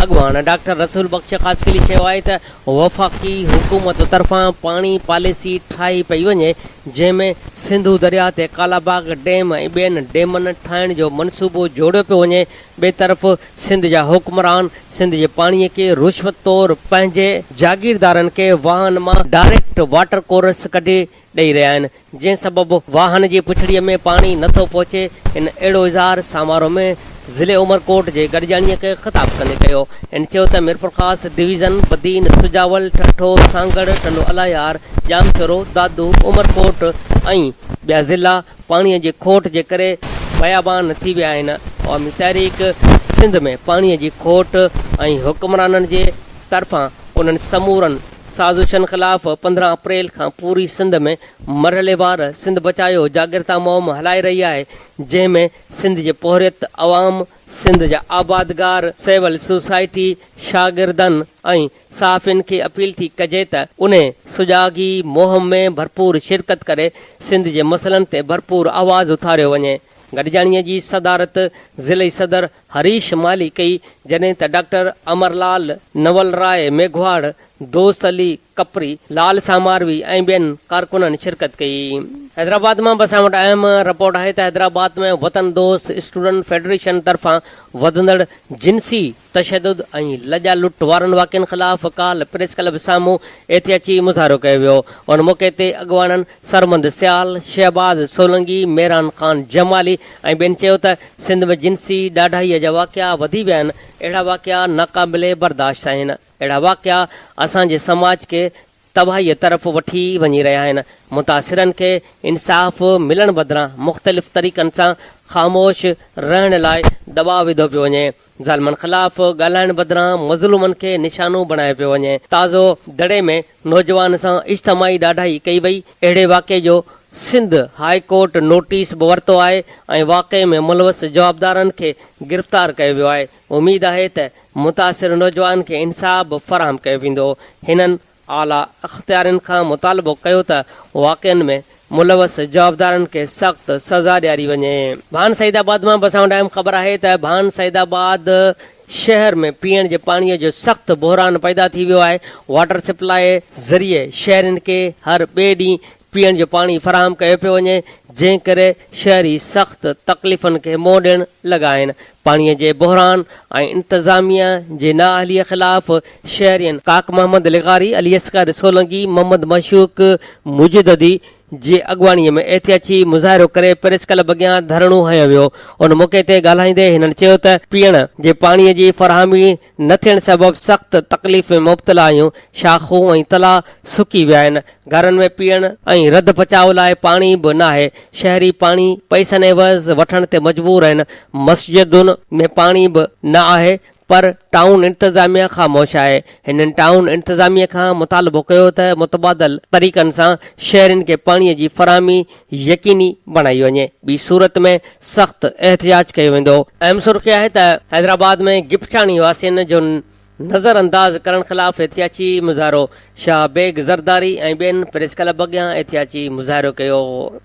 اڳواڻ ڊاڪٽر رسول بخش خاصخيلي چيو آهي ته وفاقي حڪومت طرفان پاڻي پاليسي ٺاهي پئي وڃي جنهن ۾ سنڌو درياهه تي ڪالاباغ ڊيم ۽ ٻين ڊيمن ٺاهڻ جو منصوبو جوڙيو پيو وڃي ٻئي طرف سنڌ جا حڪمران سنڌ جي پاڻي کي رشوت طور پنهنجي جاگيردارن کي واهن مان ڊائريڪٽ واٽر ڪورس ڪڍي ڏئي رهيا آهن جنهن سبب واهن جي پڇڙي ۾ پاڻي نه ٿو پهچي ان اهڙو اظهار سامارو ۾ ضلعي عمرڪوٽ جي گڏجاڻي کي خطاب ڪندي ڪيو ان چيو ته ميرپورخاص ڊويزن بدين سجاول ٺٽو سانگهڙ ٽنڊو الاهيار ڄامشورو دادو عمرڪوٽ ۽ ٻيا ضلعا پاڻي جي کوٽ جي ڪري بيابان ٿي ويا آهن عوامي تحريڪ سنڌ ۾ پاڻي جي کوٽ ۽ حڪمرانن جي طرفان انهن سمورن سازشن خلاف پندرهن اپريل کان پوري سنڌ ۾ مرحليوار سنڌ بچايو جاڳرتا مهم هلائي رهي آهي، جنهن ۾ سنڌ جي پورهيت، عوام، سنڌ جا آبادگار، سول سوسائٽي، شاگردن ۽ صحافين کي اپيل ٿي ڪجي ته انهي سجاڳي مهم ۾ ڀرپور شرڪت ڪري سنڌ جي مسئلن تي ڀرپور آواز اٿاريو وڃي. گڏجاڻيء جي صدارت ضلعي صدر هريش مالهي ڪئي، جڏهن ته ڊاڪٽر امر لال، نول راء ميگهواڙ، دوست علي ڪپري، لال ساماروي ۽ ٻين ڪارڪنن شرڪت ڪئي. حيدرآباد مان به اسان وٽ اهم رپورٽ آهي ته حيدرآباد ۾ وطن دوست اسٽوڊنٽ فيڊريشن طرفان وڌندڙ جنسي تشدد ۽ لڄا لٽ وارن واقعن خلاف ڪالهه پريس ڪلب سامهون احتياجي مظاهرو ڪيو ويو، ان موقعي تي اڳواڻن سرمد سيال، شهباز سولنگي، ميران خان جمالي ۽ ٻين چيو ته سنڌ ۾ جنسي ڏاڍائيء جا واقعا وڌي ويا آهن، اهڙا واقعا ناقابل برداشت آهن، اهڙا واقعا اسان جي سماج کي تباهيء طرف وٺي وڃي رهيا آهن، متاثرن کي انصاف ملڻ بدران مختلف طريقن سان خاموش رهڻ لاء دٻاء وڌو پيو وڃي. ظالمن خلاف ڳالهائڻ بدران مظلومن کي نشانو بڻايو پيو وڃي، تازو دڙي ۾ نوجوان سان اجتماعي ڏاڍائي ڪئي وئي، اهڙي واقعي جو سنڌ هاء ڪورٽ نوٽيس به ورتو آهي ۽ واقعي ۾ ملوث جوابدارن کي گرفتار ڪيو ويو آهي، اميد آهي ته متاثر نوجوان کي انصاف به فراهم ڪيو ويندو، هنن. اعليٰ اختيارين کان مطالبو ڪيو ته واقعن ۾ ملوث جوابدارن کي سخت سزا ڏياري وڃي. ڀان سعيد آباد مان بساڻو ٽائيم خبر آهي ته ڀان سعيد آباد شهر ۾ پيئڻ جي پاڻي جو سخت بحران پيدا ٿي ويو آهي، واٽر سپلائي ذريعي شهرين کي هر ٻئي ڏينهن پيئڻ جو پاڻي فراهم ڪيو پيو وڃي، جنهن ڪري شهري سخت تڪليفن کي منهن ڏيڻ لڳا آهن. پاڻي جي بحران ۽ انتظاميه جي نااهليء خلاف شهرين ڪاڪ محمد لغاري، علي اصغر سولنگي، محمد معشوق مجددي جي اڳواڻي ۾ احتياجي مظاهرو ڪري پريس ڪلب اڳيان ڌرڻو هنيو ويو. ان موقعي تي ڳالهائيندي هنن چيو ته پيئڻ جي پاڻي جي فراهمي نه ٿيڻ سبب سخت تڪليف ۾ مبتلا آهيون، شاخون ۽ تلاء سڪي ويا آهن، گهرن ۾ پيئڻ ۽ رڌ پچاء لاء پاڻي به ناهي، شهري پاڻي پئسن عيوض وٺڻ تي مجبور آهن، مسجدن ۾ پاڻي به نه آهي پر ٽائون انتظاميه خاموش آهي، هنن ٽائون انتظاميه کان مطالبو ڪيو ته متبادل طريقن سان شهرين کي پاڻي جي فراهمي يقيني بڻائي وڃي، ٻي صورت ۾ سخت احتجاج ڪيو ويندو. اهم سرخي آهي ته حيدرآباد ۾ گپچاڻي واسين جو نظرانداز ڪرڻ خلاف احتجاجي مظاهرو، شاهه بيگ زرداري ۽ ٻين پريس ڪلب اڳيان احتجاجي مظاهرو ڪيو.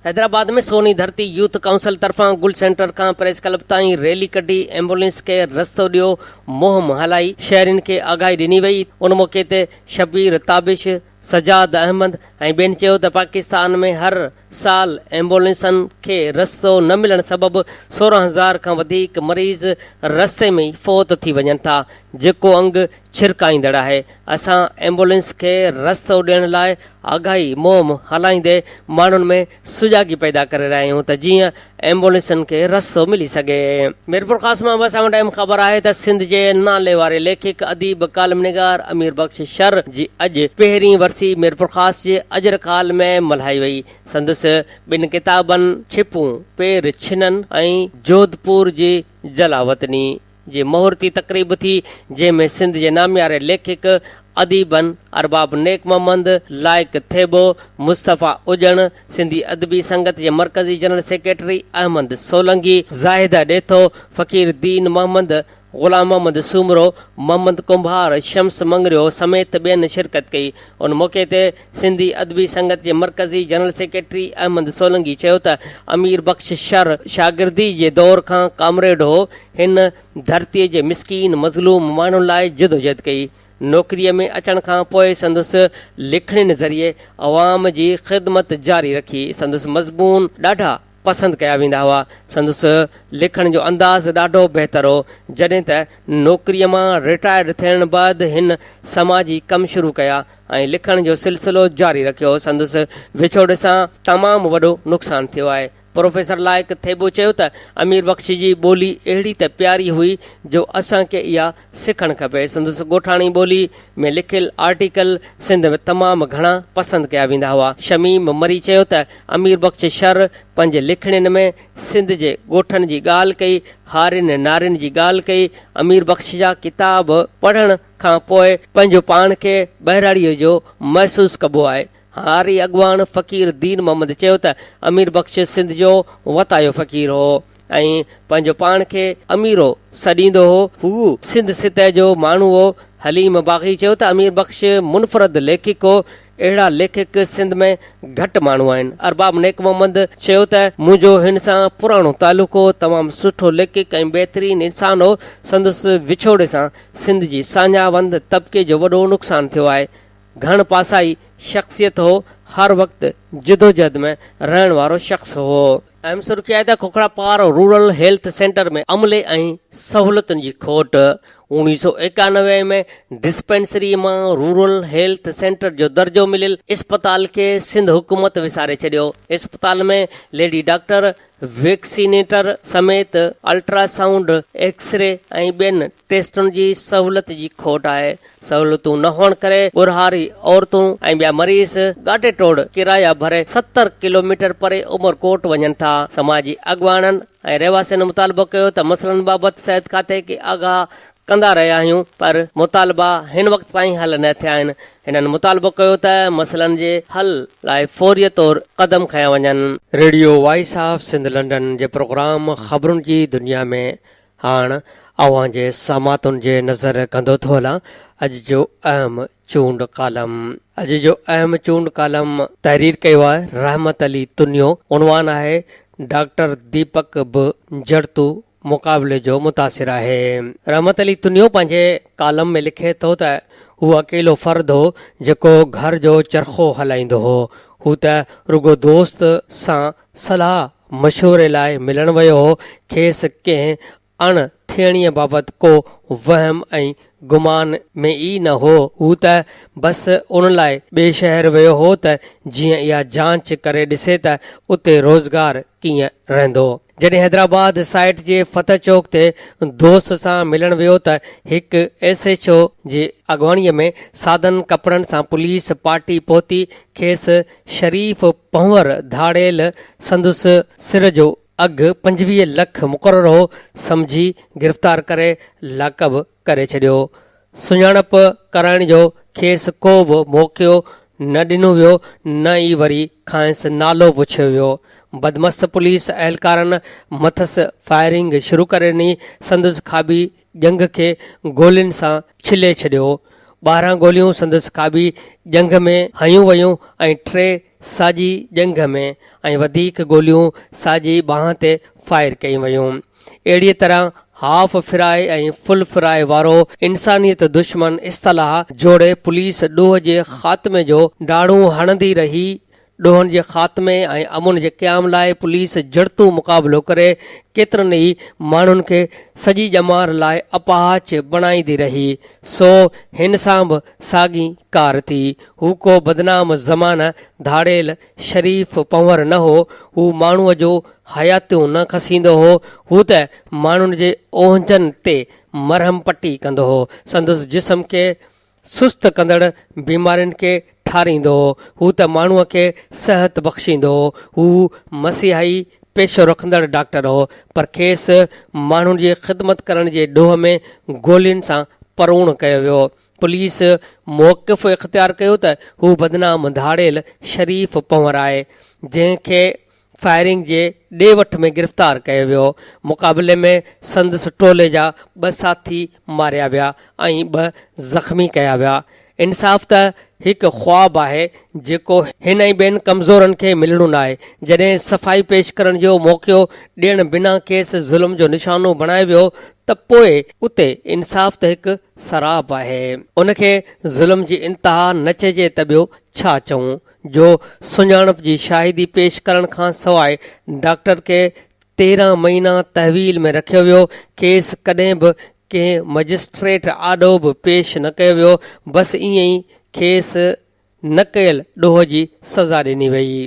حيدرآباد ۾ سوني ڌرتي يوٿ ڪائونسل طرفان گل سينٽر کان پريس ڪلب تائين ريلي ڪڍي ايمبولينس کي رستو ڏيو مهم هلائي شهرين کي آگاهي ڏني وئي، ان موقعي تي شبير تابش، سجاد احمد ۽ ٻين چيو ته پاڪستان ۾ هر سال ايمبولينسن کي رستو نه ملڻ سبب سورهن هزار کان وڌيڪ مريض رستي ۾ ئي فوت ٿي وڃن ٿا جيڪو انگ ڇرڪائيندڙ آهي اسان ايمبولينس کي رستو ڏيڻ لاء آگاهي مهم هلائيندي ماڻهن ۾ سجاڳي پيدا ڪري رهيا آهيون ته جيئن ايمبولينسن کي رستو ملي سگهي. ميرپورخاص مان به اسان وٽ اهم خبر آهي ته سنڌ جي ناليواري ليکڪ، اديب، ڪالم نگار امير بخش شر جي اڄ پهرين ورسي ميرپورخاص جي اجرڪ هال ۾ ملهائي وئي. سندس ٻن ڪتابن ڇپون پير ڇنن ۽ جوڌپور جي جلاوطني جي مهورتي تقريب ٿي، جنهن ۾ سنڌ جي نامياري ليکڪ، اديبن، ارباب نيڪ محمد، لائق ٿيٻو، مصطفيٰ اڄڻ، سنڌي ادبي سنگت جي مرڪزي جنرل سيڪريٽري احمد سولنگي، زاهده ڏيٿو، فقير دين محمد، غلام محمد سومرو، محمد ڪنڀار، شمس مڱريو سميت ٻين شرڪت ڪئي. ان موقعي تي. سنڌي ادبي سنگت جي مرڪزي جنرل سيڪريٽري احمد سولنگي چيو ته امير بخش شر شاگردي جي دور کان ڪامريڊ هو، هن ڌرتي جي مسڪين مظلوم ماڻهن لاء جدوجهد ڪئي، نوڪري ۾ اچڻ کان پوء سندس لکڻين ذريعي عوام جي خدمت جاري رکي، سندس مضمون ڏاڍا. پسند ڪيا ويندا هئا. سندس لکڻ جو انداز ڏاڍو بهتر هو. جڏهن ته نوڪريء مان رٽائرڊ ٿيڻ بعد هن سماجي ڪم شروع ڪيا ۽ لکڻ جو سلسلو جاري رکيو. سندس وڇوڙي سان تمام وڏو نقصان ٿيو آهي. پروفيسر لائق ٿيٻو چيو ته امير بخش جي ٻولي اهڙي ته پياري هئي جو اسان کي اها سکڻ کپي. سندس ڳوٺاڻي ٻولي ۾ لکيل آرٽيڪل سنڌ ۾ تمام گهڻا پسند ڪيا ويندا هئا. شميم مري چيو ته امير بخش شر پنهنجي لکڻين ۾ سنڌ جي ڳوٺن جي ڳالهه ڪئي، هارين نارين جي ڳالهه ڪئي. امير بخش جا ڪتاب پڙهڻ کان پوء پنهنجو پاڻ کي ٻهراڙيء جو محسوس ڪبو آهي. هاري اڳواڻ فقير دين محمد چيو ته امير بخش سنڌ جو وتايو فقير هو. ۽ پنهنجو پاڻ کي اميرو سڏيندو هو. هو سنڌ سطح جو ماڻهو هو. حليم باغي چيو ته امير بخش منفرد ليکڪ هو. اهڙا ليکڪ سنڌ ۾ گهٽ ماڻهو آهن. ارباب نيڪ محمد چيو ته منهنجو هن سان پراڻو تعلق هو. تمام سٺو ليکڪ ۽ بهترين انسان هو. سندس وڇوڙي سان سنڌ جي ساڃاهه وند طبقي جو وڏو نقصان ٿيو آهي. گهڻ پاسائي شخصيت هو. هر وقت جدوجهد ۾ رهڻ وارو شخص هو. اهم سرخي آهي ته کوکراپار رورل هيلٿ سينٽر ۾ عملي ۽ سهولتن جي کوٽ، اوڻيهه سؤ ايڪانوي ۾ ڊسپينسري مان رورل هيلٿ سينٽر جو درجو مليل اسپتال کي سنڌ حڪومت وساري ڇڏيو، اسپتال ۾ ليڊي ڊاڪٽر، ويڪسينيٽر سميت الٽرا سائونڊ، ايڪسري ۽ ٻين ٽيسٽن جي سهولت جي کوٽ آهي، سهولتون نه هئڻ ڪري ڳورهاري عورتون ۽ ٻيا مريض ڳاٽي ٽوڙ ڪرايا ڀري ستر ڪلوميٽر پري عمر ڪوٽ وڃن ٿا، سماجي اڳواڻن ۽ رهواسين مطالبو ڪيو ته مسئلن بابت صحت کاتي کي آگاهه ڪندا رهيا آهيون پر مطالبا هن وقت تائين حل نه ٿيا آهن، هنن مطالبو ڪيو ته مسئلن جي حل لاء فوري طور قدم کنيا وڃن. Radio voice of Sindh London جي پروگرام خبرن جي دنيا ۾ هاڻ اوهان جي ساماتن جي نظر ڪندو ٿو هلان اڄ جو اهم چونڊ ڪالم. اڄ جو اهم چونڊ ڪالم تحرير ڪيو آهي رحمت علي تنيو. عنوان آهي ڊاڪٽر ديپڪ به جڙتو مقابلي جو متاثر آهي. رحمت علي تنيو پنهنجي ڪالم ۾ لکي ٿو ته هو اڪيلو فرد هو جيڪو گهر جو چرخو هلائيندو هو. هو ته رڳو دوست سان صلاح مشوري لاء ملڻ ويو هو، کيس ڪنهن اڻ ٿيڻيء بابت ڪو وهم ۽ گمان ۾ ئي نه هو. هو ته بس ان لاء ٻئي شهر ويو هو ته جيئن اها جانچ ڪري ڏسي ته اتي روزگار ڪيئن رهندو. جڏهن حيدرآباد سائيٽ جي فتح چوڪ تي دوست سان ملڻ ويو ته هڪ ايس ايڇ او جي اڳواڻيء ۾ سادن ڪپڙن سان پوليس پارٽي پهتي کيس شريف پنهور ڌاڙيل سندس سر جو اگهه پنجويهه لک مقرر هو سمجهي گرفتار ڪري لاڪب ڪري ڇڏيو. سڃاڻپ ڪرائڻ جو کيس ڪو به موقعو نه ڏنو ويو نه ئي وري کانئس نالو پڇيو ويو. بدمست پوليس اهلڪارن مٿس فائرنگ شروع ڪري ڏني سندس کاٻي ڄنگهه کي گولين سان ڇلي ڇڏيو. ٻارهن گوليون سندس کاٻي ڄنگهه ۾ هنيون ويون ۽ ٽي ساڄي ڄنگهه ۾ ۽ وڌيڪ گوليون ساڄي ٻانهن تي فائر ڪيون ويون. اهڙيء طرح هاف فرائي ۽ فل فرائي وارو انسانيت دشمن اصطلاح جوڙي پوليس ڏوهه جي خاتمي جو ڊاڙون هڻندي رهي، ڏوهن جي خاتمي ۽ امن جي قيام لاء پوليس جڙتو مقابلو ڪري ڪيترن ئي ماڻهن کي سڄي ڄمار لاء اپاهچ بڻائيندي رهي سو هن سان به ساڳي ڪار ٿي. هو ڪو بدنام زمانه ڌاڙيل شريف پنهور نه هو، هو ماڻهوء جو حياتيون نه کسيندو هو، هو ته ماڻهن جي اونهجن تي مرهم پٽي ڪندو هو، سندس جسم کي سست ڪندڙ بيمارين کي ٺاريندو هو. هو ته ماڻهوء کي صحت بخشيندو هو. هو مسيحائي پيشو رکندڙ ڊاڪٽر هو، پر کيس ماڻهن جي خدمت ڪرڻ جي ڏوهه ۾ گولين سان پروڻ ڪيو ويو. پوليس موقف اختيار ڪيو ته هو بدنام ڌاڙيل شريف پنهور آهي، جنهن کي فائرنگ جي ڏي وٺ ۾ گرفتار ڪيو ويو، مقابلي ۾ سندس ٽولي جا ٻه ساٿي ماريا ويا ۽ ٻه زخمي ڪيا ويا، انصاف ته هڪ خواب آهي جيڪو هن ۽ ٻين ڪمزورن کي ملڻو ناهي، جڏهن صفائي پيش ڪرڻ جو موقعو ڏيڻ بنا کيس ظلم جو نشانو بڻايو ويو ته پوء اتي انصاف ته هڪ سراب آهي، ان کي ظلم جي انتها نه چئجي ته ٻيو ڇا چئون. جو سڃاڻپ جي شاهدي پيش ڪرڻ کان سواء ڊاڪٽر کي تيرهن مهينا تحويل ۾ رکيو ويو، کيس ڪڏهن به ڪنهن مئجسٽريٽ آڏو به پيش نه ڪيو ويو، بس ائين ئي کيس نه ڪيل ڏوهه جي سزا ڏني ويئي.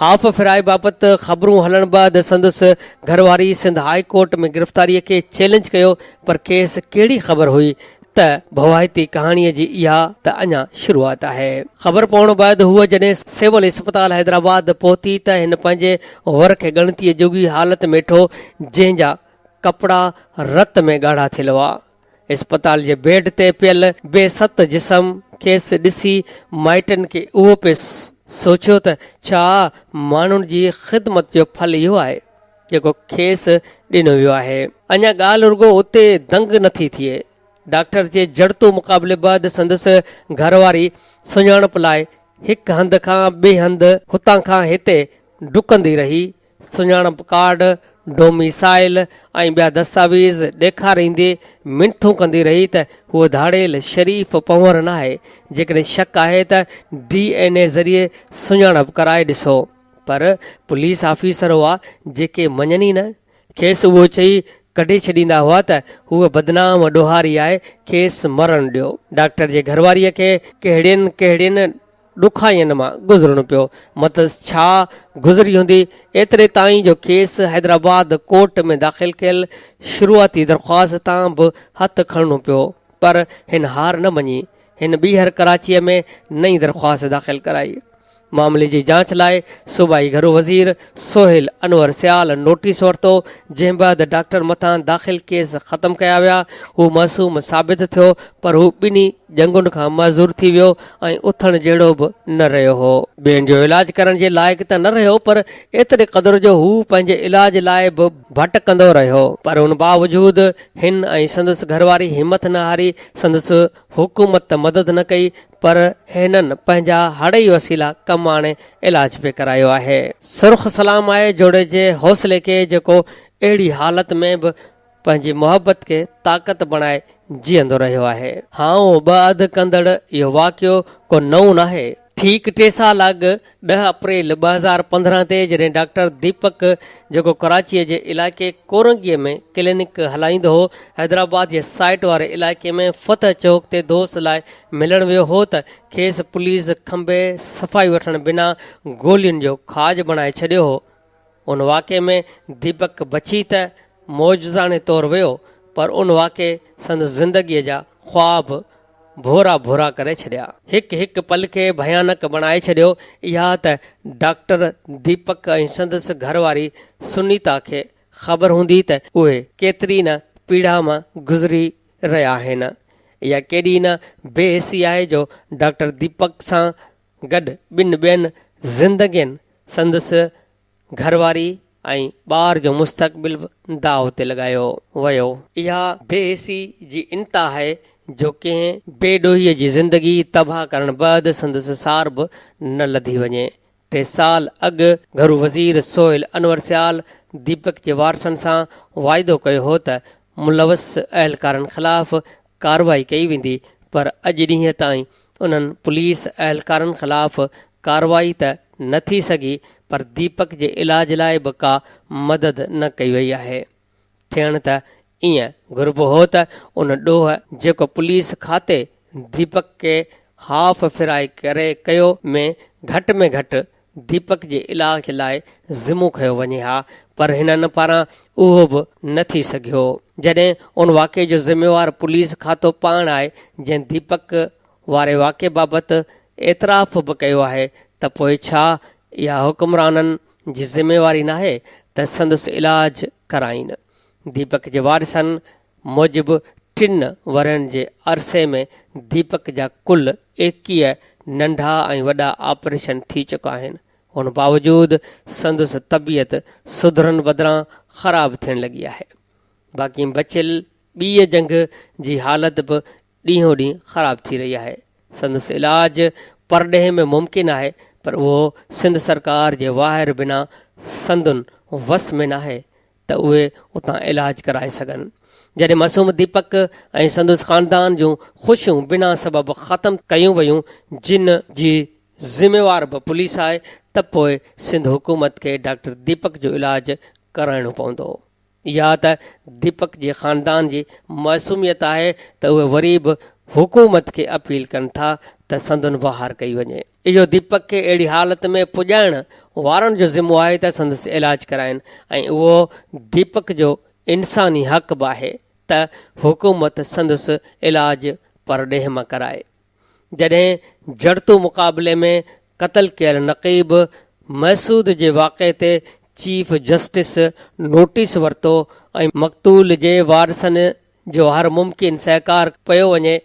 هاف ڦيرائي بابت خبرون هلڻ بعد سندس گهر واري سنڌ هاء ڪورٽ ۾ گرفتاري کي چئلينج ڪيو پر کيس ڪهڙي خبر هئي ته ڀوائتي ڪهاڻيء جي اها ته اڃا شروعات آهي. خبر پوڻ بعد هوء جڏهن سول اسپتال حيدرآباد پهتي ته هن پنهنجي ور کي ڳڻتيء جوڳي حالت ۾ ٺو جنهن جا ڪپڙا رت ۾ ڳاڙها ٿيل هئا. اسپتال جي بيڊ تي پيل بي ست جسم کيس ڏسي مائٽن کي اهو پئي سوچيو ته ڇا ماڻهن جي خدمت جو ڦل اهو آهي؟ جيڪو کيس ڏنو ويو آهي. اڃا ڳالهه رڳو اتي دنگ نه ٿي ٿئي. ڊاڪٽر جي جڙتو مقابلي بعد سندس گهر واري سڃاڻپ لاء هڪ هنڌ کان ٻئي هنڌ، هتان کان هتي ڊڪندي رهي، سڃاڻپ ڪارڊ، ڊوميسائيل ۽ ٻيا دستاويز ڏيکاريندي منٿون ڪندي رهي ته هوء ڌاڙيل شريف پنهور ناهي. جيڪڏهن شڪ آهي ته ڊي اين اي ذريعي سڃاڻپ ڪرائي ڏسو. پر پوليس آفيسر هئا جيڪي مڃن ئي نه، کيس اهو چئي ڪڍي ڇڏيندا هئا ته هوء بدنام ڏوهاري آهي، کيس مرڻ ڏيو. ڊاڪٽر جي گهرواريء کي ڪهڙين ڪهڙين ڏکائين مان گذرڻو پيو، مٿس ڇا گذري هوندي، ايتري تائين جو کيس حيدرآباد ڪورٽ ۾ داخل ڪيل شروعاتي درخواست تان به هٿ کڻڻو پيو، پر هن هار نه مڃي، هن ٻيهر ڪراچيء ۾ نئين درخواست داخل ڪرائي. معاملي جي جاچ لاء صوبائي گهرو وزير سهيل انور سيال نوٽيس ورتو جنهن بعد ڊاڪٽر مٿان داخل ڪيس ختم ڪيا ويا هو معصوم ثابت ٿيو پر هو ٻنهي جنگن کان معذور ٿي ويو ۽ اٿڻ جهڙو به نه رهيو هو. ٻين جو علاج ڪرڻ جي لائق ته نه رهيو پر ايتري قدر جو هو پنهنجي علاج لاء به ڀٽڪندو رهيو پر ان باوجود هن ۽ سندس گهرواري همٿ نه هاري سندس حڪومت ته مدد نه ڪئي پر هنن پنهنجا هڙئي وسيلا ڪم آڻي علاج به ڪرايو آهي. سرخ سلام آء جوڙي جي حوصلي کي جيڪو اهڙي حالت ۾ به پنهنجي محبت کي طاقت بڻائي جيئندو رهيو آهي. هائون ٻه اڌ ڪندڙ اهو واقعو ڪو نئون ناهي. ٺيڪ ٽي سال اڳ ڏهه اپريل ٻه هزار پندرهن تي جڏهن ڊاڪٽر ديپڪ جيڪو ڪراچيء جي علائقي ڪورنگيء ۾ ڪلينڪ هلائيندو هو، حيدرآباد جي سائيٽ واري علائقي ۾ فتح چوڪ تي دوست لاء ملڻ ويو هو ته کيس پوليس کنڀي صفائي وٺڻ بنا گولين جو کاڄ بڻائي ڇڏيو هو. ان واقعي ۾ ديپڪ بچي ته معجزاڻي طور ويو پر ان واقعي سندس زندگيء جا خواب ڀورا ڀورا ڪري ڇڏيا. هڪ هڪ پل کي ڀيانڪ بڻائي ڇڏيو. اها ته ڊاڪٽر ديپڪ ۽ سندس گهر واري سنيتا کي خبر هوندي ته اهي ڪيتري نه پيڙا مان گذري رهيا آهن. اها ڪيڏي نه بي حسي آهي جو ڊاڪٽر ديپڪ سان گڏ ٻن ٻين زندگين سندس گهر واري ۽ ٻار جو مستقبل به داء تي لڳايو ويو. اها بي حسي جي انتها آهي جو ڪنهن بي ڏوهي جي زندگي تباهه ڪرڻ بعد سندس سار به نه لڌي وڃي. ٽي سال اڳ گهرو وزير سهيل انور سيال ديپڪ جي وارثن سان واعدو ڪيو هو ته ملوث اهلڪارن خلاف ڪارروائي ڪئي ويندي پر اڄ ڏينهن تائين انهن پوليس اهلڪارن خلاف ڪارروائي ته نه ٿي سگهي پر ديپڪ جي علاج لاء به ڪا مدد نه ڪئي وئي آهي ٿيڻ ته ائين گهربو هو ته ان ڏوهه جيڪو پوليس کاتي ديپڪ کي هاف ڦرائي ڪري ڪيو ۾ گهٽ ۾ گهٽ ديپڪ جي علاج لاء ذمو کنيو وڃي ها پر هنن پاران اهو به نه ٿي سگهيو جڏهن ان واقعي جو ذميوار پوليس کاتو پاڻ آهي جنهن ديپڪ واري واقعي بابت اعتراف به ڪيو آهي ته پوء ڇا اها حڪمرانن جي ذميواري ناهي ته سندس علاج ڪرائين ديپڪ جي وارثن موجب ٽن ورهين جي عرصي ۾ ديپڪ جا ڪل ايڪيهه ننڍا ۽ وڏا آپريشن ٿي چڪا آهن، ان باوجود سندس طبيعت سڌرڻ بدران خراب ٿيڻ لڳي آهي، باقي بچيل ٻيء جنگهه جي حالت به ڏينهون ڏينهن خراب ٿي رهي آهي، سندس علاج پرڏيهه ۾ ممڪن آهي پر اهو سنڌ سرڪار جي واهر بنا سندن وس ۾ ناهي، ته اهي اتان علاج ڪرائي سگهن. جڏهن معصوم ديپڪ ۽ سندس خاندان جون خوشيون بنا سبب ختم ڪيون ويون جن جي ذميوار به پوليس آهي ته پوء سنڌ حڪومت کي ڊاڪٽر ديپڪ جو علاج ڪرائڻو پوندو. اها ته ديپڪ جي خاندان جي معصوميت آهي ته اهي وري به حڪومت کي اپيل ڪن ٿا ته سندن بهار ڪئي وڃي. اهو ديپڪ کي اهڙي حالت ۾ پڄائڻ وارن جو ذمو آهي ته سندس علاج ڪرائين ۽ اهو ديپڪ جو انساني حق به آهي ته حڪومت سندس علاج پرڏيهه مان ڪرائي. جڏهن جڙتو مقابلي ۾ قتل ڪيل نقيب محسود جي واقعي تي چيف جسٽس نوٽيس ورتو ۽ مقتول جي وارثن جو هر ممڪن سهڪار ڪيو وڃي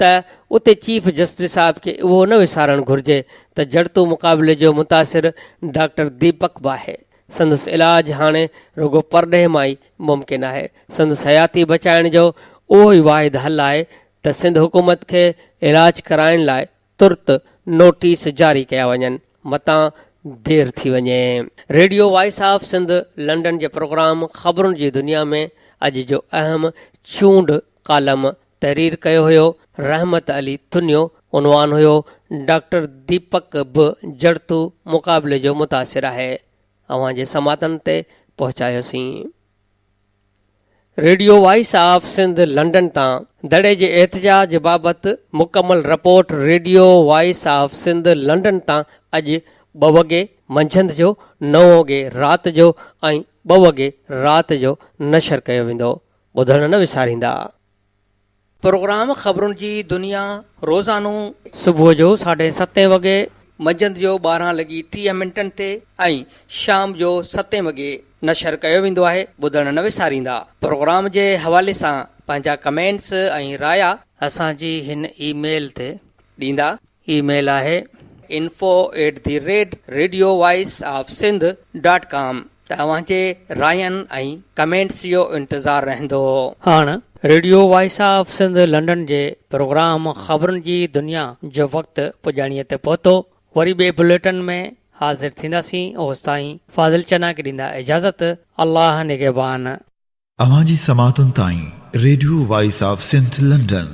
ته اتي چيف جسٽس صاحب کي اهو نه وسارڻ گهرجي ته جڙتو مقابلي جو متاثر ڊاڪٽر ديپڪ به آهي، سندس علاج هاڻي رڳو پرڏيهه مان ئي ممڪن آهي، سندس حياتي بچائڻ جو اهو ئي واحد حل آهي ته سنڌ حڪومت کي علاج ڪرائڻ لاء ترت نوٽيس جاري ڪيا وڃن متان دير ٿي وڃي. Radio voice of Sindh London جي پروگرام خبرن جي دنيا ۾ اڄ جو اهم چونڊ ڪالم تحرير ڪيو هيو رحمت علي تنيو، عنوان هيو ڊاڪٽر ديپڪ به جڙتو مقابلي جو متاثر آهي اوهان جي سماعتن تي پهچايوسين. Radio voice of Sindh London تان دڙي جي احتجاج بابت مڪمل report radio voice of Sindh London تان اڄ ٻه وڳي منجهند جو نو وڳي رات جو ۽ ٻه وڳي رات جو نشر ڪيو ويندو. ٻڌڻ نه وساريندا. پروگرام خبرن جي دنيا روزانو. صبح جو ساڍي ستين وڳي. منجهند جو ٻارهن لڳي ٽيهه منٽن تي ۽ شام جو ستين وڳي نشر ڪيو ويندو آهي ٻڌڻ نه وساريندا. پروگرام جي حوالي سان پنهنجا ڪمينٽس ۽ رايا. اسان جي هن اي ميل تي. ڏيندا. اي ميل آهي info at the rate radio voice of Sindh dot com توهان جي راين ۽ ڪمينٽس جو انتظار رهندو. هاڻ radio voice of Sindh London جي پروگرام خبرن جي دنيا جو وقت پڄاڻيء تي پهتو وري ٻئي بليٽن ۾ حاضر ٿينداسين اوستائين فاضل چنا کي ڏيندا اجازت الله نگهبان. اوهان جي سماعتن تائين radio voice of Sindh London.